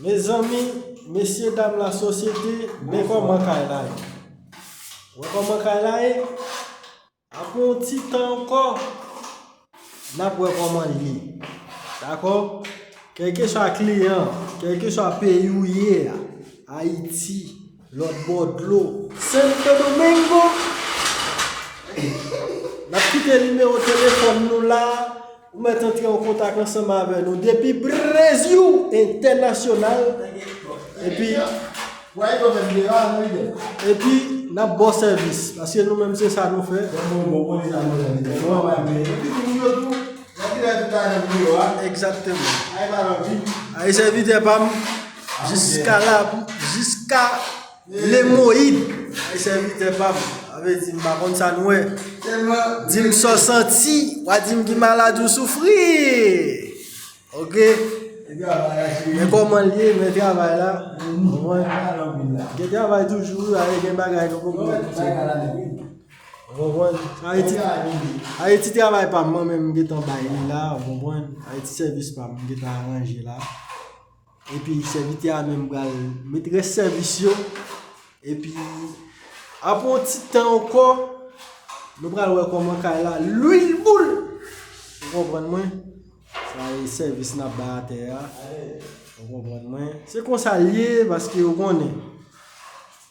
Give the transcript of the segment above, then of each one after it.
Mezanmi mesye dam la sosyete mwen koman kay la ye mwen koman kay la ye Apre yon ti tan ankò, n ap wè kòman l ye. Dakò? Kèlkeswa kliyan an, kèlkeswa peyi ou ye a, Ayiti, lòtbò dlo, Sento Domengo, n ap kite nimewo telefòn nou la. Ou mèt antre an kontak ansanm avè nou depi Breziw entènasyonal epi epi nap baw sèvis paske nou menm se sa nou fè Egzakteman Ayi sèvitè pam jiska la jiska Lemoyid, Ay sèvitè pa m, sa vle di m pa konn sa n wè. Di m sa w santi, w a di m ki maladi w soufri. Ok. Men kòman l ye, men travay la. Gen travay toujou wi, ale gen bagay nou poko wè toujou. Ou konprann? Ayiti travay pa m mwen menm m gen tan bay li la, ou konprann? Ayiti sèvis pa m m gen tan aranje la. Epi sèvitè a menm pral met rès sèvis yo. Epi apre yon ti tan ankò, nou pral wè kòman kay la lwil boul. Ou konprann mwen? Sa e sèvis n ap bay atè a. Ou konprann mwen? Se konsa l ye, paske ou konnen.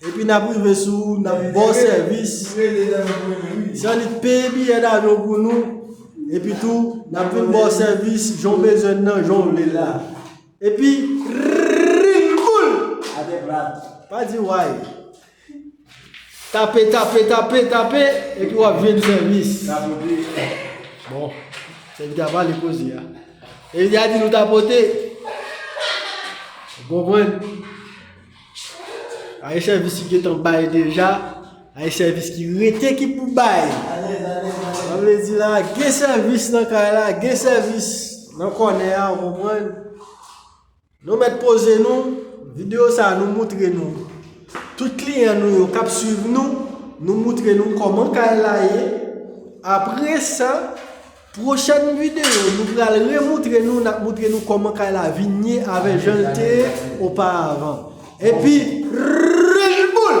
Epi nap rive sou ou nan bon sèvis. San li peye biyè davyon pou nou. Epi tou nap vin bon sèvis jan w bezwen nan jan w vle la. Epi ring boul! Pa di way. Tape, tape, tape, tape. Epi wap jwenn sèvis. Bon, sèvis la pale koze a. Epi ya di nou tapote. Bon mwen. Aye sèvis ki getan bay deja, aye sèvis ki rete ki pou bay. Sa vle di la, gen sèvis nan kay la, gen sèvis nan kònè a, ou konprann? Nou mèt poze nou, videyo sa nou moutre nou. Tout kliyan nou yo kap suiv nou, nou moutre nou kòman kay la ye. Apre sa, Prochèn video nou pral re moutre nou nap moutre nou koman kay la vin ye avè janl te ye oparavan. Epi Red Bull!